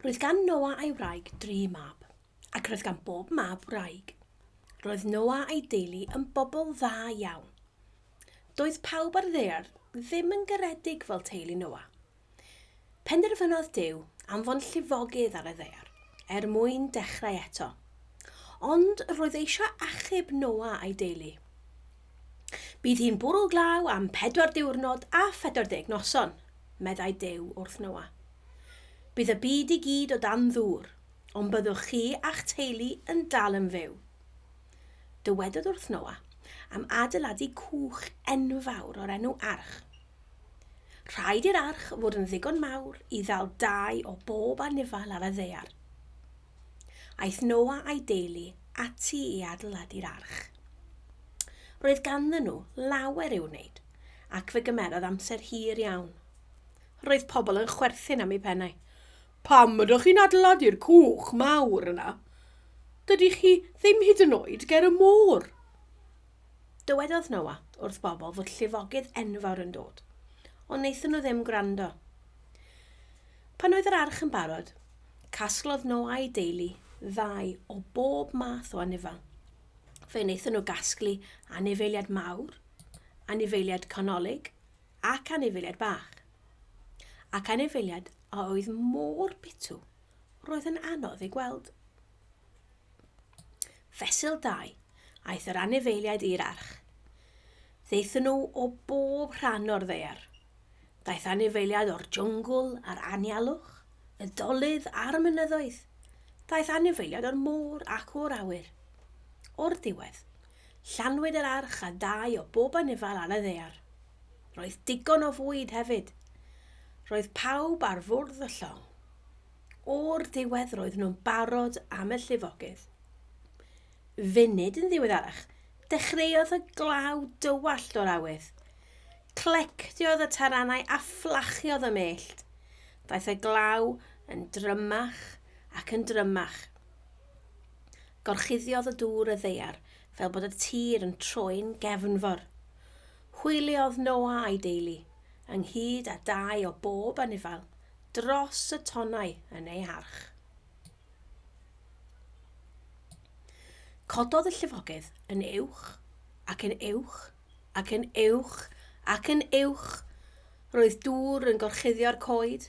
Roedd gan Noa a'i wraig dri mab, ac roedd gan bob mab wraig. Roedd Noa a'i deulu yn bobl dda iawn. Doedd pawb ar ddaear ddim yn garedig fel teulu Noa. Penderfynodd Duw anfon llifogydd ar y ddaear er mwyn dechrau eto. Ond roedd eisiau achub Noa a'i deulu. Bydd hi'n bwrw glaw am pedwar diwrnod a 40 noson, meddai Duw wrth Noa. Bydd y byd i gyd o dan ddŵr, ond byddwch chi a'ch teulu yn dal yn fyw. Dywedodd wrth Noa am adeiladu cwch enfawr o'r enw arch. Rhaid i'r arch fod yn ddigon mawr i ddal dau o bob anifail ar y ddaear. Aeth Noa a'i deulu ati i adeiladu'r arch. Roedd ganddyn nhw lawer i'w wneud, ac fe gymerodd amser hir iawn. Roedd pobl yn chwerthin am eu pennau. Pam ydych chi'n adeiladu'r cwch mawr yna? Dydy chi ddim hyd yn oed ger y môr. Dywedodd Noa wrth bobl fod llifogydd enfawr yn dod, ond wnaethon nhw ddim gwrando. Pan oedd yr arch yn barod, Casglodd nhw a'i deulu ddau o bob math o anifail. Fe wnaethon nhw gasglu anifeiliad mawr, anifeiliad canolig ac anifeiliad bach. Ac anifeiliad a oedd mor bitw, roedd yn anodd ei gweld. Fesul 2, aeth yr anifeiliaid i'r arch. Ddaethon nhw o bob rhan o'r ddaear. Daeth anifeiliaid o'r jwngl a'r anialwch, y dolydd a'r mynyddoedd. Daeth anifeiliaid o'r môr ac o'r awyr. O'r diwedd, llanwyd yr arch a dau o bob anifail ar y ddaear. Roedd digon o fwyd hefyd. Roedd pawb ar fwrdd y llong. O'r diwedd roedd nhw'n barod am y llifogydd. Funud yn ddiweddarach, dechreuodd y glaw dywallt o'r awydd. Clectiodd y taranau a fflachiodd y mellt. Daeth y glaw yn drymach ac yn drymach. Gorchuddiodd y dŵr y ddeiar fel bod y tir yn troi'n gefnfor. Hwyliodd Noa a'i deulu, ynghyd â dau o bob anifail, dros y tonnau yn ei harch. Cododd y llifogydd yn uwch ac yn uwch ac yn uwch ac yn uwch. Roedd dŵr yn gorchuddio'r coed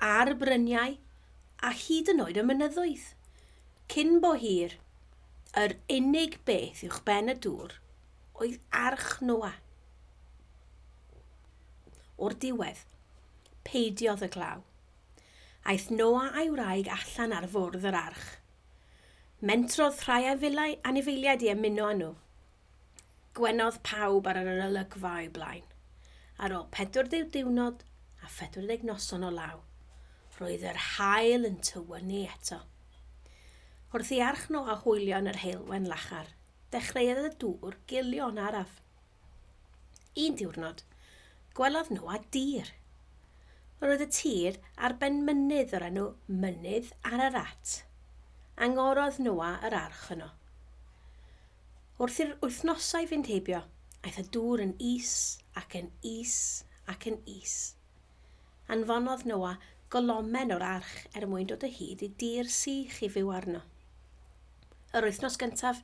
a'r bryniau a hyd yn oed y mynyddoedd. Cyn bo hir, yr unig beth uwch ben y dŵr oedd arch Noa. O'r diwedd, Peidiodd y glaw. Aeth Noa a'i wraig allan ar fwrdd yr arch. Mentrodd rhai anifeiliaid i ymuno â nhw. Gwenodd pawb ar yr olygfa o'u blaen. Ar ôl 40 diwrnod a 40 noson o law, roedd yr haul yn tywynnu eto. Wrth i arch Noa hwylio yn yr heulwen lachar, dechreuodd y dŵr gilio'n araf. Un diwrnod, gwelodd Noa dir. Roedd y tir ar ben mynydd o'r enw Mynydd Ararat. Angorodd Noa yr arch yno. Wrth i'r wythnosau fynd heibio, aeth y dŵr yn is ac yn is ac yn is. Anfonodd Noa golomen o'r arch er mwyn dod o hyd i dir sych i fyw arno. Yr wythnos gyntaf,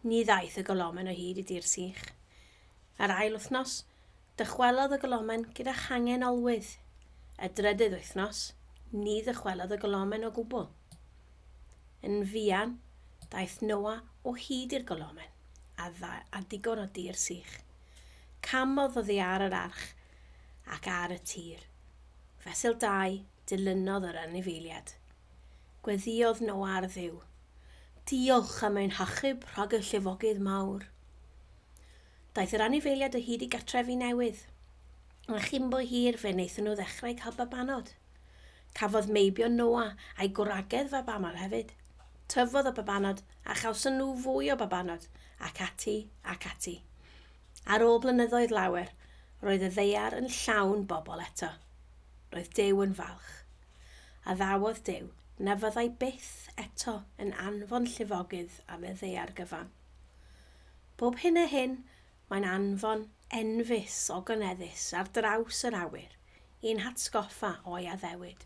Ni ddaeth y golomen o hyd i dir sych. Yr ail wythnos, dychwelodd y golomen gyda changen olwydd. Y drydydd wythnos, ni ddychwelodd y golomen o gwbl. Yn fuan, daeth Noa o hyd i'r golomen, a, dda, a digon o dir sych. Camodd oddi ar yr arch ac ar y tir. Fesul 2, dilynodd yr anifeiliad. Gweddiodd Noa ar Dduw, Diolch am ein hachub rhag y llifogydd mawr. Daeth yr anifeiliaid o hyd i gartrefi newydd, a chyn bo hir fe wnaethon nhw ddechrau cael babanod. Cafodd meibion Noa a'i gwragedd fabanod hefyd. Tyfodd y babanod, a chawson nhw fwy o babanod, ac ati, ac ati. Ar ôl blynyddoedd lawer, roedd y ddaear yn llawn bobl eto. Roedd Duw yn falch. Addawodd Duw na fyddai byth eto yn anfon llifogydd am y ddaear gyfan. Bob hyn a hyn, mae'n anfon enfys ogoneddus ar draws yr awyr i'n hatgoffa o'i addewid.